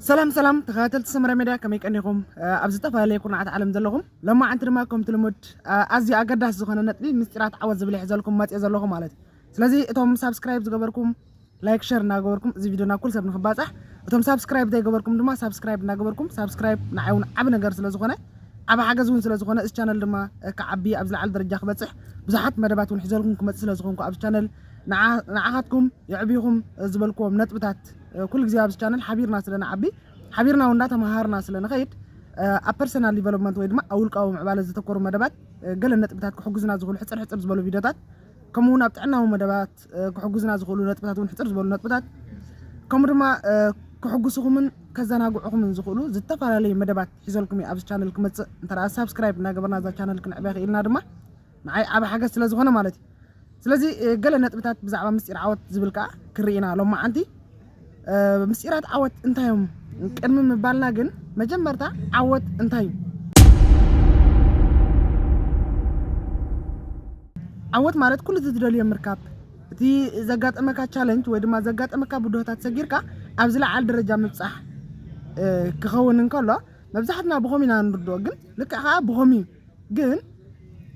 ሰላም ሰላም ተኸታተልቲ ሰመረ ሜድያ ከመይ ቀኒኹም? ኣብ ዝተፈላለየ ኩርናዓት ዓለም ዘለኹም ሎማዓንቲ ድማ ከምቲ ልሙድ ኣዝዩ ኣገዳሲ ዝኾነ ነጥቢ ምስጢራት ዓወት ዝብል ሒዘልኩም መፅኦ ዘለኹ ማለት እዩ። ስለዚ እቶም ሳብስክራይብ ዝገበርኩም ላይክ ሸር እናገበርኩም እዚ ቪድዮ ናብ ኩሉ ሰብ ንክባፃሕ እቶም ሳብስክራይብ ዘይገበርኩም ድማ ሳብስክራይብ እናገበርኩም ሳብስክራይብ ንዓይ እውን ዓብ ነገር ስለዝኾነ ዓብ ሓገዝ እውን ስለዝኾነ እዚ ቻነል ድማ ክዓቢ ኣብ ዝለዓለ ደረጃ ክበፅሕ ብዙሓት መደባት እውን ሒዘልኩም ክመፅእ ስለዝኾንኩ ኣብዚ ቻነል ንዓኻትኩም የዕብኹም ዝበልክዎም ነጥብታት ኩሉ ግዜ ኣብዚ ቻነል ሓቢርና ስለ ንዓቢ ሓቢርና እውን እንዳተመሃርና ስለ ንኸይድ ኣብ ፐርሰናል ዲቨሎፕመንት ወይ ድማ ኣብ ውልቃዊ ምዕባለ ዘተኮሩ መደባት ገለ ነጥብታት ክሕግዙና ዝኽእሉ ሕፅር ሕፅር ዝበሉ ቪድዮታት ከምኡ እውን ኣብ ጥዕናዊ መደባት ክሕግዙና ዝኽእሉ ነጥብታት እውን ሕፅር ዝበሉ ነጥብታት ከምኡ ድማ ክሕጉስኹምን ከዘናግዑኹምን ዝኽእሉ ዝተፈላለዩ መደባት ሒዘልኩም እዩ ኣብዚ ቻነል ክመፅእ እንተ ሳብስክራይብ እናገበርና እዛ ቻነል ክንዕበ ክኢልና ድማ ንዓይ ዓቢ ሓገዝ ስለ ዝኾነ ማለት እዩ። ስለዚ ገለ ነጥብታት ብዛዕባ ምስጢር ዓወት ዝብል ከኣ ክርኢ ኢና ሎማዓንቲ። ምስጢራት ዓወት እንታይ እዮም ቅድሚ ምባልና ግን መጀመርታ ዓወት እንታይ እዩ? ዓወት ማለት ኩሉ እቲ ትደልዮ ምርካብ እቲ ዘጋጠመካ ቻለንጅ ወይ ድማ ዘጋጠመካ ብድሆታት ሰጊርካ ኣብ ዝለዓል ደረጃ ምብፃሕ ክኸውን እንከሎ መብዛሕትና ብኸም ኢና ንርድኦ ግን ልክዕ ከዓ ብኸም እዩ ግን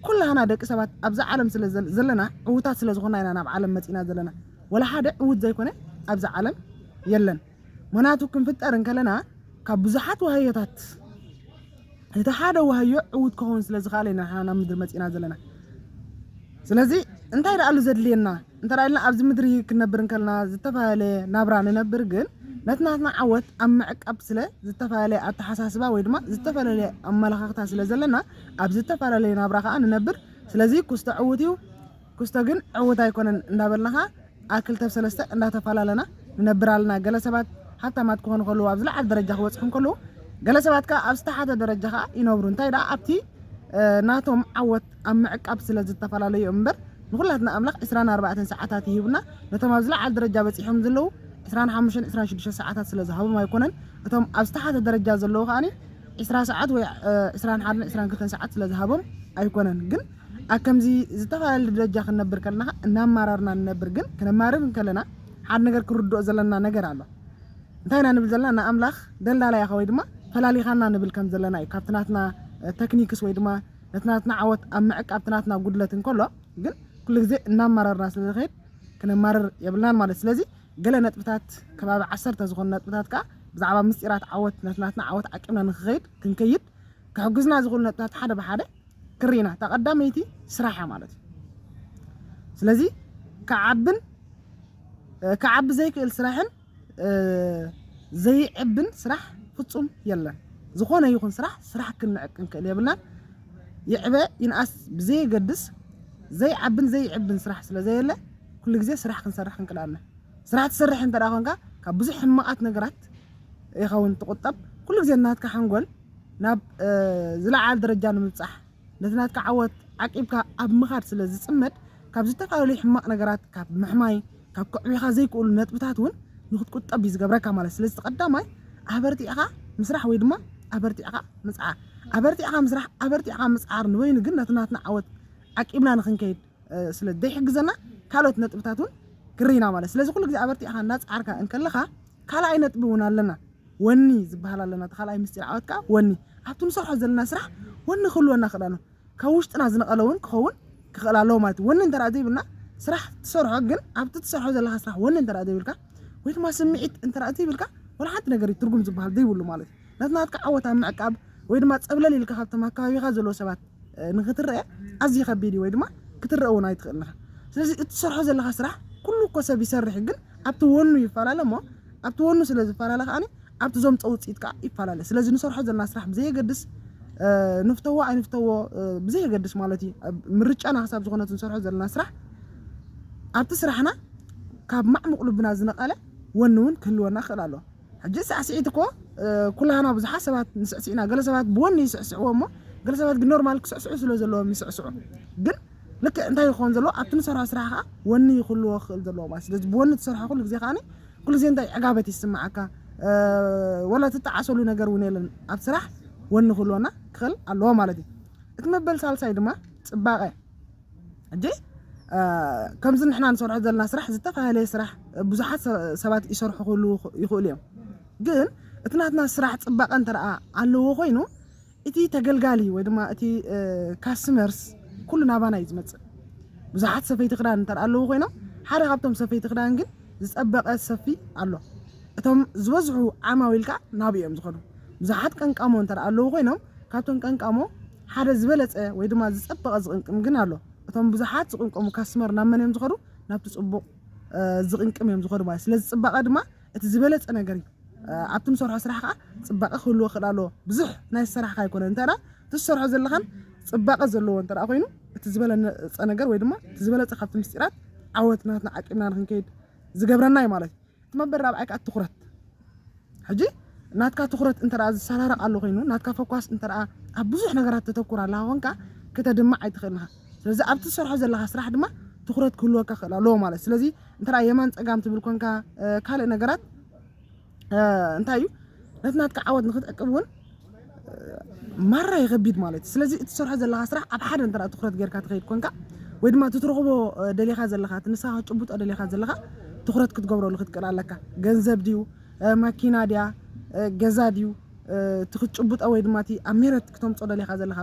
ኩላህና ደቂ ሰባት ኣብዛ ዓለም ስለ ዘለና ዕውታት ስለ ዝኾና ኢና ናብ ዓለም መጺና ዘለና ወላ ሓደ ዕውት ዘይኮነ ኣብዛ ዓለም የለን ምክንያቱ ክንፍጠር እንከለና ካብ ብዙሓት ዋህዮታት እቲ ሓደ ዋህዮ ዕውት ክኸውን ስለ ዝኽኣለ ኢና ናብ ምድሪ መጺና ዘለና ስለዚ እንታይ ደኣሉ ዘድልየና እንተ ኢልና ኣብዚ ምድሪ ክንነብር እንከለና ዝተፈላለየ ናብራ ንነብር ግን ነቲ ናትና ዓወት ኣብ ምዕቃብ ስለ ዝተፈላለየ ኣተሓሳስባ ወይ ድማ ዝተፈላለየ ኣመለኻኽታ ስለ ዘለና ኣብ ዝተፈላለየ ናብራ ከዓ ንነብር ስለዚ ኩስቶ ዕውት እዩ ኩስቶ ግን ዕውት ኣይኮነን እንዳበልና ከዓ ኣክልተብ ሰለስተ እንዳተፈላለና ንነብር ኣለና ገለ ሰባት ሃብታማት ክኾኑ ከለዉ ኣብ ዝለዓለ ደረጃ ክበፅሑ ከለዉ ገለ ሰባት ከዓ ኣብ ዝተሓተ ደረጃ ከዓ ይነብሩ እንታይ ደኣ ኣብቲ ናቶም ዓወት ኣብ ምዕቃብ ስለ ዝተፋላለዩ እምበር ንኩላትና ኣምላኽ ዕስራን ኣርባዕተን ሰዓታት ሂቡና ነቶም ኣብ ዝላዓል ደረጃ በጺሖም ዘለዉ ዕስራን ሓሙሽተን ዕስራን ሽዱሽተ ሰዓታት ስለ ዝሃቦም ኣይኮነን እቶም ኣብ ዝተሓተ ደረጃ ዘለዉ ከኣ ዕስራ ሰዓት ወይ ዕስራን ሓደን ዕስራን ክልተን ሰዓት ስለ ዝሃቦም ኣይኮነን ግን ኣብ ከምዚ ዝተፋላለየ ደረጃ ክንነብር ከለና እናማራርና ንነብር ግን ክነማርር እንከለና ሓደ ነገር ክንርድኦ ዘለና ነገር ኣሎ እንታይ ኢና ንብል ዘለና ንኣምላኽ ደልዳላ ኢኻ ወይ ድማ ፈላሊኻና ንብል ከም ዘለና እዩ ካብቲ ናትና ተክኒክስ ወይ ድማ ነቲ ናትና ዓወት ኣብ ምዕቃብ እቲ ናትና ጉድለት እንከሎ ግን ኩሉ ግዜ እናማረርና ስለ ንኸይድ ክነማርር የብልናን ማለት ስለዚ ገለ ነጥብታት ከባቢ ዓሰርተ ዝኾኑ ነጥብታት ከዓ ብዛዕባ ምስጢራት ዓወት ነቲ ናትና ዓወት ዓቂብና ንክኸይድ ክንከይድ ክሕግዙና ዝኽእሉ ነጥብታት ሓደ ብሓደ ክርኢና እታ ቀዳመይቲ ስራሕ እያ ማለት እዩ ስለዚ ክዓብን ክዓቢ ዘይክእል ስራሕን ዘይዕብን ስራሕ ፍጹም የለን ዝኾነ ይኹን ስራሕ ስራሕ ክንዕቅ ክንክእል የብልናን ይዕበ ይንኣስ ብዘየገድስ ዘይዓብን ዘይዕብን ስራሕ ስለ ዘየለ ኩሉ ግዜ ስራሕ ክንሰርሕ ክንክእል ኣለና ስራሕ ትሰርሕ እንተ ኮንካ ካብ ብዙሕ ሕማቓት ነገራት ኢኻ እውን ትቑጠብ ኩሉ ግዜ ናትካ ሓንጎል ናብ ዝለዓለ ደረጃ ንምብጻሕ ነቲ ናትካ ዓወት ዓቂብካ ኣብ ምኻድ ስለ ዝጽመድ፣ ካብ ዝተፈላለዩ ሕማቕ ነገራት፣ ካብ ምሕማይ፣ ካብ ከዕብዩኻ ዘይክእሉ ነጥብታት እውን ንኽትቁጠብ እዩ ዝገብረካ ማለት። ስለዚ እቲ ቀዳማይ ኣበርቲዕኻ ምስራሕ ወይ ድማ ኣበርቲዕኻ ምጽዓር። ኣበርቲዕኻ ምስራሕ፣ ኣበርቲዕኻ ምጽዓር ንበይኑ ግን ነቲ ናትና ዓወት ዓቂብና ንኽንከይድ፣ ስለ ዘይሕግዘና ካልኦት ነጥብታት እውን ክርኢና ማለት ስለዚ ኩሉ ግዜ ኣበርቲዕካ እናፀዓርካ እንከለኻ ካልኣይ ነጥቢ እውን ኣለና ወኒ ዝበሃል ኣለና እቲ ካልኣይ ምስጢር ዓወት ከዓ ወኒ ኣብቲ ንሰርሖ ዘለና ስራሕ ወኒ ክህልወና ክእል ኣሎ ካብ ውሽጥና ዝነቐለ እውን ክኸውን ክኽእል ኣለዎ ማለት እዩ ወኒ እንተ ዘይብልና ስራሕ ትሰርሖ ግን ኣብቲ ትሰርሖ ዘለካ ስራሕ ወኒ እንተ ዘይብልካ ወይ ድማ ስምዒት እንተ ዘይብልካ ወላ ሓንቲ ነገር እዩ ትርጉም ዝበሃል ዘይብሉ ማለት እዩ ነቲ ናትካ ዓወት ኣብ ምዕቃብ ወይ ድማ ጸብለል ኢልካ ካብቶም ኣብ ከባቢኻ ዘለዉ ሰባት ንኽትረኣ ኣዝዩ ከቢድ እዩ ወይ ድማ ክትረኣ እውን ኣይትኽእልን ኢኻ። ስለዚ እቲ ትሰርሖ ዘለኻ ስራሕ ኩሉ እኮ ሰብ ይሰርሕ እዩ፣ ግን ኣብቲ ወኑ ይፈላለ እሞ ኣብቲ ወኑ ስለ ዝፈላለ ከዓኒ ኣብቲ ዘምጾ ውጽኢት ከዓ ይፈላለ። ስለዚ ንሰርሖ ዘለና ስራሕ ብዘየገድስ ንፍተዎ ኣይንፍተዎ ብዘየገድስ ማለት እዩ ምርጫና ክሳብ ዝኾነት ንሰርሖ ዘለና ስራሕ ኣብቲ ስራሕና ካብ ማዕሙቕ ልብና ዝነቐለ ወኒ እውን ክህልወና ክኽእል ኣለዎ። ሕጂ ሳዕስዒት እኮ ኩላህና ብዙሓት ሰባት ንስዕስዕ ኢና። ገለ ሰባት ብወኒ ይስዕስዕዎ እሞ ገለ ሰባት ግን ኖርማል ክስዕስዑ ስለ ዘለዎም ይስዕስዑ። ግን ልክዕ እንታይ ይኸውን ዘለዎ ኣብቲ ንሰርሖ ስራሕ ከዓ ወኒ ይኽልዎ ክኽእል ዘለዎ ማለት ስለዚ ብወኒ ትሰርሖ ኩሉ ግዜ ከዓኒ ኩሉ ግዜ እንታይ ዕጋበት ይስምዓካ ወላ ትጠዓሰሉ ነገር እውን የለን ኣብ ስራሕ ወኒ ክህልወና ክኽእል ኣለዎ ማለት እዩ። እቲ መበል ሳልሳይ ድማ ፅባቐ ሕጂ ከምዚ ንሕና ንሰርሖ ዘለና ስራሕ ዝተፈላለየ ስራሕ ብዙሓት ሰባት ይሰርሑ ክህልዉ ይኽእሉ እዮም ግን እቲ ናትና ስራሕ ፅባቐ እንተ ኣለዎ ኮይኑ እቲ ተገልጋሊ ወይ ድማ እቲ ካስተመርስ ኩሉ ናባና እዩ ዝመፅእ ብዙሓት ሰፈይቲ ክዳን እንተ ኣለዎ ኮይኖም ሓደ ካብቶም ሰፈይቲ ክዳን ግን ዝፀበቐ ሰፊ ኣሎ እቶም ዝበዝሑ ዓማዊል ከዓ ናብኡ እዮም ዝኸዱ ብዙሓት ቀንቃሞ እንተ ኣለዎ ኮይኖም ካብቶም ቀንቃሞ ሓደ ዝበለጸ ወይ ድማ ዝጸበቐ ዝቕንቅም ግን ኣሎ። እቶም ብዙሓት ዝቕንቀሙ ካስትመር ናብ መን እዮም ዝኸዱ? ናብቲ ጽቡቕ ዝቕንቅም እዮም ዝኸዱ ማለት እዩ። ስለዚ ጽባቐ ድማ እቲ ዝበለጸ ነገር እዩ። ኣብቲ ንሰርሖ ስራሕ ከዓ ጽባቐ ክህልዎ ይኽእል ኣለዎ። ብዙሕ ናይ ዝሰራሕካ ኣይኮነን እንተ እቲ ዝሰርሖ ዘለኻን ጽባቐ ዘለዎ እንተ ኮይኑ እቲ ዝበለጸ ነገር ወይ ድማ እቲ ዝበለጸ ካብቲ ምስጢራት ዓወት ናትና ዓቂብና ንክንከይድ ዝገብረና እዩ ማለት እዩ። ትመበል ራብዓይ ከኣ ትኩረት ሕጂ ናትካ ትኩረት እንተ ዝሰራረቅ ኣሎ ኮይኑ ናትካ ፈኳስ እንተ ኣብ ብዙሕ ነገራት ተተኩር ኣለካ ኮንካ ከተድምዕ ኣይትኽእልን ኢኻ ስለዚ ኣብቲ ዝሰርሖ ዘለካ ስራሕ ድማ ትኩረት ክህልወካ ክእል ኣለዎ ማለት ስለዚ እንተ የማን ፀጋም ትብል ኮንካ ካልእ ነገራት እንታይ እዩ ነቲ ናትካ ዓወት ንክትዕቅብ እውን ማራ ይኸቢድ ማለት ስለዚ እትሰርሖ ዘለኻ ስራሕ ኣብ ሓደ እንተ ትኹረት ጌርካ ትኸይድ ኮንካ ወይ ድማ እቲ ትረኽቦ ደሊኻ ዘለኻ እቲ ንስኻ ክትጭብጦ ደሊኻ ዘለኻ ትኹረት ክትገብረሉ ክትክእል ኣለካ ገንዘብ ድዩ ማኪና ድያ ገዛ ድዩ እቲ ክትጭብጦ ወይ ድማ እቲ ኣብ ሜረት ክተምፆ ደሊኻ ዘለኻ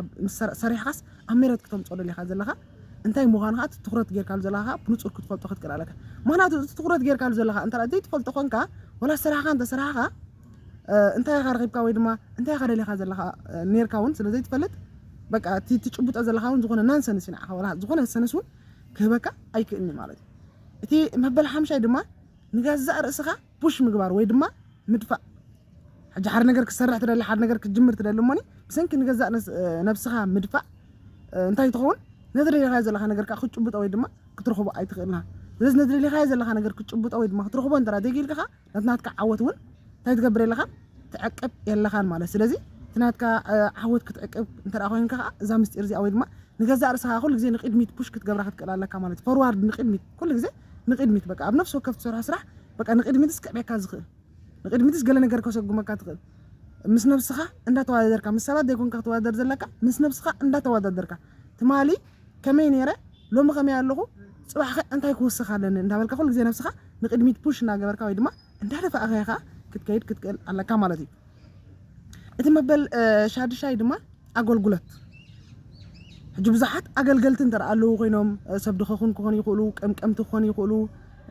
ሰሪሕኻስ ኣብ ሜረት ክተምፆ ደሊኻ ዘለኻ እንታይ ምዃኑ ከዓ ትኹረት ጌርካሉ ዘለኻ ብንፁር ክትፈልጦ ክትክእል ኣለካ ምክንያቱ እዚ ትኹረት ጌርካሉ ዘለኻ እንተ ዘይትፈልጦ ኮንካ ወላ ስራሕኻ እንተ ስራሕኻ እንታይ ኢኻ ረኺብካ ወይ ድማ እንታይ ኢኻ ደሊኻ ዘለኻ ኔርካ እውን ስለ ዘይትፈልጥ በቃ እቲ ትጭብጦ ዘለኻ እውን ዝኾነ ናንሰንስ እዩ ንዓኻ ወላ ዝኾነ ሰንስ እውን ክህበካ ኣይክእልኒ ማለት እዩ እቲ መበል ሓምሻይ ድማ ንገዛእ ርእስኻ ፑሽ ምግባር ወይ ድማ ምድፋእ ሕጂ ሓደ ነገር ክሰርሕ ትደሊ ሓደ ነገር ክትጅምር ትደሊ እሞኒ ብሰንኪ ንገዛእ ነብስኻ ምድፋእ እንታይ ትኸውን ነዚ ደሊኻዮ ዘለኻ ነገር ከዓ ክትጭብጦ ወይ ድማ ክትረኽቦ ኣይትኽእልና ስለዚ ነዚ ደሊኻዮ ዘለኻ ነገር ክትጭብጦ ወይ ድማ ክትረኽቦ እንተ ዘይክኢልካ ነቲ ናትካ ዓወት እውን እንታይ ትገብር የለኻን ትዕቅብ የለኻን ማለት ስለዚ እቲ ናትካ ዓወት ክትዕቅብ እንተ ኮይንካ ከዓ እዛ ምስጢር እዚኣ ወይ ድማ ንገዛእ ርእስኻ ኩሉ ግዜ ንቅድሚት ፑሽ ክትገብራ ክትክእል ኣለካ ማለት እዩ ፎርዋርድ ንቅድሚት ኩሉ ግዜ ንቅድሚት በቃ ኣብ ነፍሲ ወከፍ ትሰርሖ ስራሕ በቃ ንቅድሚትስ ክዕብየካ ዝኽእል ንቅድሚትስ ገለ ነገር ከሰጉመካ ትኽእል ምስ ነብስኻ እንዳተወዳደርካ ምስ ሰባት ዘይኮንካ ክትወዳደር ዘለካ ምስ ነብስኻ እንዳተወዳደርካ ትማሊ ከመይ ኔረ ሎሚ ከመይ ኣለኹ ጽባሕኸ እንታይ ክውስኽ ኣለኒ እንዳበልካ ኩሉ ግዜ ነብስኻ ንቅድሚት ፑሽ እንዳገበርካ ወይ ድማ እንዳደፋእኻ ኢኻ ክትከይድ ክትክእል ኣለካ ማለት እዩ እቲ መበል ሻድሻይ ድማ ኣገልግሎት ሕጂ ብዙሓት ኣገልገልቲ እንተ ኣለዉ ኮይኖም ሰብ ድኸኹን ክኾኑ ይኽእሉ ቀምቀምቲ ክኾኑ ይኽእሉ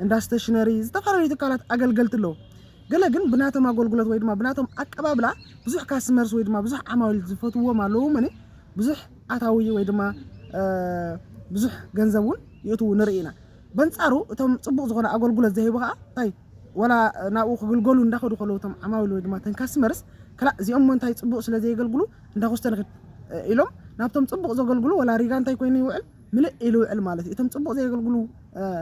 እንዳ ስተሽነሪ ዝተፈላለዩ ትካላት ኣገልገልቲ ኣለዉ ገለ ግን ብናቶም ኣጎልጉሎት ወይ ድማ ብናቶም ኣቀባብላ ብዙሕ ካስመርስ ወይ ድማ ብዙሕ ዓማዊል ዝፈትውዎም ኣለዉ እሞ ብዙሕ ኣታዊ ወይ ድማ ብዙሕ ገንዘብ እውን ይእትዉ ንርኢ ኢና በንጻሩ እቶም ጽቡቕ ዝኾነ ኣገልግሎት ዘይህቡ ከዓ እንታይ ወላ ናብኡ ክግልገሉ እንዳኸዱ ከለዉ እቶም ዓማዊል ወይ ድማ ተን ካስመርስ ክላእ እዚኦም እሞ እንታይ ጽቡቕ ስለ ዘየገልግሉ እንዳኹስተንኺድ ኢሎም ናብቶም ጽቡቕ ዘገልግሉ ወላ ሪጋ እንታይ ኮይኑ ይውዕል ምልእ ኢሉ ይውዕል ማለት እዩ። እቶም ጽቡቕ ዘየገልግሉ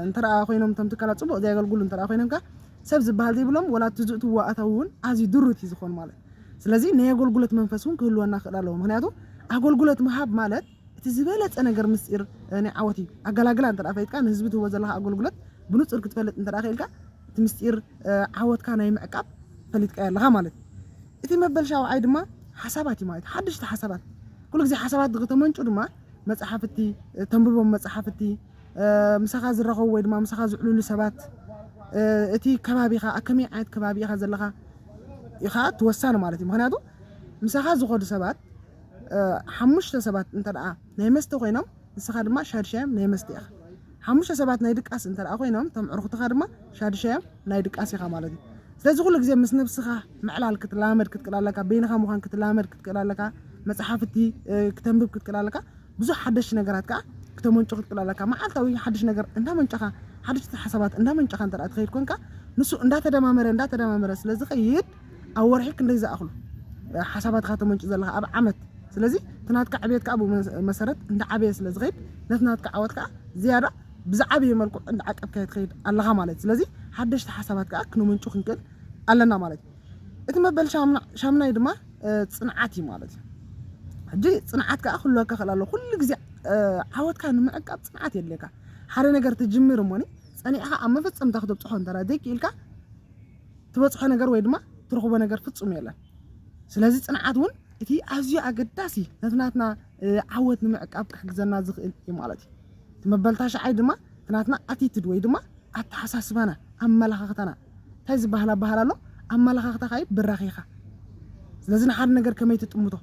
እንተደኣ ኮይኖም እቶም ትካላት ጽቡቕ ዘየገልግሉ እንተደኣ ኮይኖም ከኣ ሰብ ዝበሃል ዘይብሎም ወላ እቲ ዝእትዎ ኣታዊ እውን ኣዝዩ ድሩት እዩ ዝኾን ማለት ስለዚ ናይ ኣገልግሎት መንፈስ እውን ክህልወና ክእል ኣለዎ ምክንያቱ ኣገልግሎት ምሃብ ማለት እቲ ዝበለፀ ነገር ምስጢር ናይ ዓወት እዩ ኣገላግላ እንተ ፈይጥካ ንህዝቢ ትህቦ ዘለካ ኣገልግሎት ብንፁር ክትፈልጥ እንተ ክኢልካ እቲ ምስጢር ዓወትካ ናይ ምዕቃብ ፈሊጥካ ኣለካ ማለት እቲ መበል ሻውዓይ ድማ ሓሳባት እዩ ማለት ሓደሽቲ ሓሳባት ኩሉ ግዜ ሓሳባት ተመንጩ ድማ መጻሕፍቲ፣ እተንብቦም መጻሕፍቲ፣ ምሳኻ ዝራኸቡ ወይ ድማ ምሳኻ ዝዕልሉ ሰባት፣ እቲ ከባቢኻ ኣብ ከመይ ዓይነት ከባቢ ኢኻ ዘለኻ ኢኻ እቲ ወሳኒ ማለት እዩ። ምክንያቱ ምሳኻ ዝኸዱ ሰባት ሓሙሽተ ሰባት እንተደኣ ናይ መስተ ኮይኖም ንስኻ ድማ ሻድሻዮም ናይ መስተ ኢኻ። ሓሙሽተ ሰባት ናይ ድቃስ እንተደኣ ኮይኖም እቶም ዕርኹትኻ ድማ ሻዱሻዮም ናይ ድቃስ ኢኻ ማለት እዩ። ስለዚ ኩሉ ግዜ ምስ ነብስኻ ምዕላል ክትላመድ ክትክእል ኣለካ፣ በይንኻ ምዃን ክትላመድ ክትክእል ኣለካ፣ መጽሓፍቲ ክተንብብ ክትክእል ኣለካ፣ ብዙሕ ሓደሽቲ ነገራት ከኣ ክተመንጩ ክትክእል ኣለካ። መዓልታዊ ሓድሽ ነገር እንዳመንጨኻ ሓደሽቲ ሓሳባት እንዳመንጨኻ እንተደኣ ትኸይድ ኮንካ ንሱ እንዳተደማመረ እንዳተደማመረ ስለዝኸይድ ኣብ ወርሒ ክንደይ ዝኣኽሉ ሓሳባት ኢኻ ተመንጩ ዘለኻ ኣብ ዓመት ስለዚ እቲ ናትካ ዕብየት ከዓ ብመሰረት እንዳዓበየ ስለ ዝኸይድ ነቲ ናትካ ዓወት ከዓ ዝያዳ ብዝዓበየ መልክዑ እንዳዓቀብካዮ ትኸይድ ኣለኻ ማለት እዩ ስለዚ ሓደሽቲ ሓሳባት ከዓ ክነመንጩ ክንክእል ኣለና ማለት እዩ እቲ መበል ሻምናይ ድማ ፅንዓት እዩ ማለት እዩ ሕጂ ፅንዓት ከዓ ክህልወካ ክእል ኣሎ ኩሉ ግዜ ዓወትካ ንምዕቃብ ፅንዓት የድልየካ ሓደ ነገር ትጅምር እሞኒ ፀኒዕኻ ኣብ መፈፀምታ ክተብፅሖ እንተ ዘይክኢልካ ትበጽሖ ነገር ወይ ድማ ትረኽቦ ነገር ፍጹም የለን። ስለዚ ጽንዓት እውን እቲ ኣዝዩ ኣገዳሲ ነቲ ናትና ዓወት ንምዕቃብ ክሕግዘና ዝኽእል እዩ ማለት እዩ። እቲ መበልታ ሸዓይ ድማ እቲ ናትና ኣቲትድ ወይ ድማ ኣተሓሳስባና ኣመለኻኽታና እንታይ ዝበሃል ኣበሃል ኣሎ ኣመለኻኽታኻ እዩ ብራኺኻ ስለዚ ንሓደ ነገር ከመይ ትጥምቶ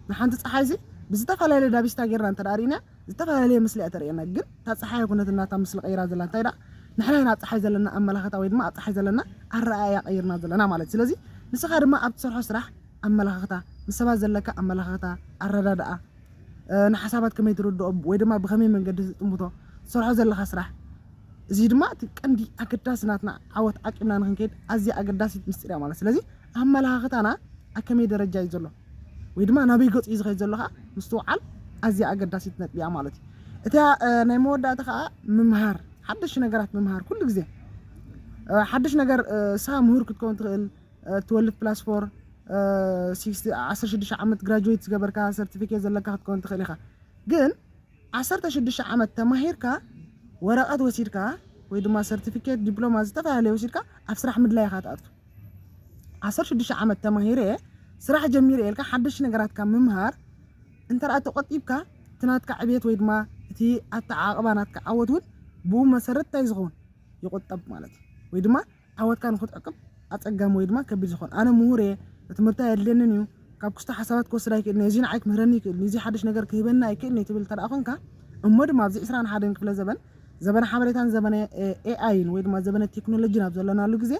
ንሓንቲ ፀሓይ ዚ ብዝተፈላለየ ዳቢስታ ጌርና እንተ ሪእናያ ዝተፈላለየ ምስሊ እያ ተርእየና ግን እታ ጸሓይ ኣይኮነትን ናታ ምስሊ ቀይራ ዘላ እንታይ ደኣ ንሕና ኢና ኣብ ጸሓይ ዘለና ኣመላኸታ ወይ ድማ ኣብ ጸሓይ ዘለና ኣረኣእያ ቀይርና ዘለና ማለት እዩ ስለዚ ንስኻ ድማ ኣብ ትሰርሖ ስራሕ ኣመላኻኽታ ምስ ሰባት ዘለካ ኣመላኻኽታ ኣረዳድኣ ንሓሳባት ከመይ ትርድኦ ወይ ድማ ብኸመይ መንገዲ ትጥምቶ ትሰርሖ ዘለኻ ስራሕ እዚ ድማ እቲ ቀንዲ ኣገዳሲ ናትና ዓወት ዓቂብና ንክንከይድ ኣዝያ ኣገዳሲት ምስጢር እያ ማለት ስለዚ ኣመላኻኽታና ኣብ ከመይ ደረጃ እዩ ዘሎ ወይ ድማ ናበይ ገጹ እዩ ዝኸይድ ዘሎ ከኣ ምስትውዓል ኣዝያ ኣገዳሲት ነጥቢ እያ ማለት እዩ። እታ ናይ መወዳእታ ከኣ ምምሃር፣ ሓደሽቲ ነገራት ምምሃር ኩሉ ግዜ ሓድሽ ነገር ንስኻ ምሁር ክትከውን ትኽእል ትወልፍ ፕላስ ፎር ዓሰርተ ሽዱሽተ ዓመት ግራጁዌት ዝገበርካ ሰርቲፊኬት ዘለካ ክትከውን ትኽእል ኢኻ ግን ዓሰርተ ሽዱሽተ ዓመት ተማሂርካ ወረቐት ወሲድካ ወይ ድማ ሰርቲፊኬት ዲፕሎማ ዝተፈላለየ ወሲድካ ኣብ ስራሕ ምድላይ ኢኻ ትኣቱ ዓሰርተ ሽዱሽተ ዓመት ተማሂረ ስራሕ ጀሚረ ኢልካ ሓደሽቲ ነገራት ካብ ምምሃር እንተደኣ ተቆጢብካ እቲ ናትካ ዕብየት ወይ ድማ እቲ ኣተዓቅባ ናትካ ዓወት እውን ብኡ መሰረት እንታይ ዝኸውን ይቁጠብ ማለት እዩ ወይ ድማ ዓወትካ ንክትዕቅብ ኣፀጋሚ ወይ ድማ ከቢድ ዝኸውን ኣነ ምሁር እየ ትምህርቲ ኣየድልየንን እዩ ካብ ክስቶ ሓሳባት ክወስድ ኣይክእልን እዚ ንዓይ ክምህረኒ ይክእል እዚ ሓደሽ ነገር ክህበኒ ኣይክእልን እዩ ትብል እንተ ኮንካ እሞ ድማ ኣብዚ ዕስራን ሓደን ክፍለ ዘበን ዘበነ ሓበሬታን ዘበነ ኤኣይን ወይ ድማ ዘበነ ቴክኖሎጂን ኣብ ዘለናሉ ግዜ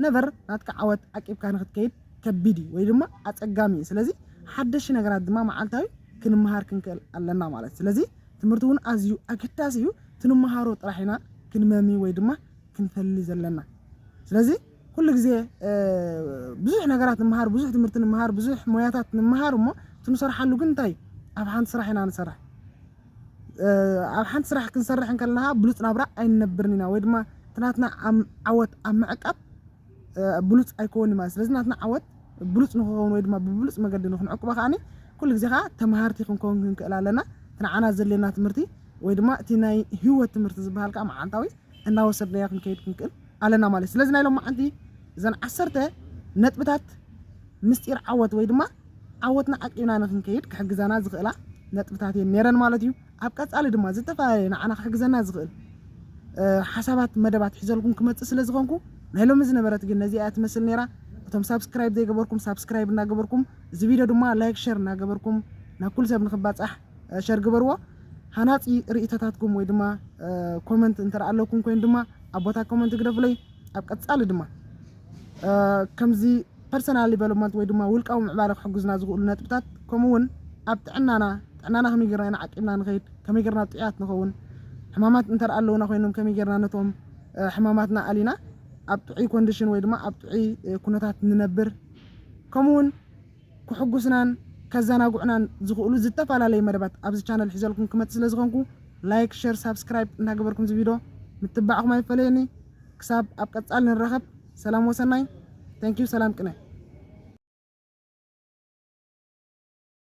ነቨር ናትካ ዓወት ዓቂብካ ንክትከይድ ከቢድ እዩ ወይ ድማ ኣጸጋሚ እዩ ስለዚ ሓደሽቲ ነገራት ድማ መዓልታዊ ክንመሃር ክንክእል ኣለና ማለት እዩ ስለዚ ትምህርቲ እውን ኣዝዩ ኣገዳሲ እዩ እቲ ንመሃሮ ጥራሕ ኢና ክንመሚ ወይ ድማ ክንፈሊ ዘለና ስለዚ ኩሉ ግዜ ብዙሕ ነገራት ንምሃር ብዙሕ ትምህርቲ ንምሃር ብዙሕ ሞያታት ንምሃር እሞ እቲ ንሰርሓሉ ግን እንታይ ኣብ ሓንቲ ስራሕ ኢና ንሰርሕ ኣብ ሓንቲ ስራሕ ክንሰርሕ እንከለና ከኣ ብሉጽ ናብራ ኣይንነብርን ኢና ወይ ድማ እቲ ናትና ዓወት ኣብ ምዕቃብ ብሉጽ ኣይኮንን'ዩ ማለት እዩ። ስለዚ ናትና ዓወት ብሉጽ ንኽኸውን ወይ ድማ ብብሉጽ መገዲ ንኽንዕቅቦ ከኣ ኩሉ ግዜ ከኣ ተመሃርቲ ክንከውን ክንክእል ኣለና። እቲ ንዓና ዘድልየና ትምህርቲ ወይ ድማ እቲ ናይ ህይወት ትምህርቲ ዝበሃል ከኣ መዓልታዊ እናወሰድናዮ ክንከይድ ክንክእል ኣለና ማለት እዩ። ስለዚ ናይ ሎማዓንቲ እዘን ዓሰርተ ነጥብታት ምስጢር ዓወት ወይ ድማ ዓወትና ዓቂብና ንኽንከይድ ክሕግዛና ዝኽእላ ነጥብታት እየን ነይረን ማለት እዩ። ኣብ ቀጻሊ ድማ ዝተፈላለየ ንዓና ክሕግዘና ዝኽእል ሓሳባት መደባት ሒዘልኩም ክመጽእ ስለ ዝኾንኩ ናይ ሎሚ ዝነበረት ግን ነዚኣ እያ ትመስል ነይራ። እቶም ሳብስክራይብ ዘይገበርኩም ሳብስክራይብ እናገበርኩም እዚ ቪድዮ ድማ ላይክ ሸር እናገበርኩም ናብ ኩሉ ሰብ ንክባጻሕ ሸር ግበርዎ። ሃናጺ ርእይቶታትኩም ወይ ድማ ኮመንት እንተ ኣለኩም ኮይኑ ድማ ኣብ ቦታ ኮመንት ግደፉለይ ኣብ ቀጻሊ ድማ ከምዚ ፐርሰናል ዲቨሎፕመንት ወይ ድማ ውልቃዊ ምዕባለ ክሕግዙና ዝኽእሉ ነጥብታት ከምኡ እውን ኣብ ጥዕናና ጥዕናና ከመይ ጌርና ኢና ዓቂብና ንኸይድ ከመይ ጌርና ጥዑያት ንኸውን ሕማማት እንተ ኣለውና ኮይኖም ከመይ ጌርና ነቶም ሕማማትና ኣሊና ኣብ ጥዑይ ኮንዲሽን ወይ ድማ ኣብ ጥዑይ ኩነታት ንነብር ከምኡ እውን ክሕጉስናን ከዘናግዑናን ዝኽእሉ ዝተፈላለዩ መደባት ኣብዚ ቻነል ሒዘልኩም ክመጽእ ስለ ዝኾንኩ ላይክ ሸር ሳብስክራይብ እናገበርኩም እዚ ቪድዮ ምትባዕኹም ኣይፈለየኒ ክሳብ ኣብ ቀጻሊ ንራኸብ ሰላም ወሰናይ Thank you ሰላም ቅነ።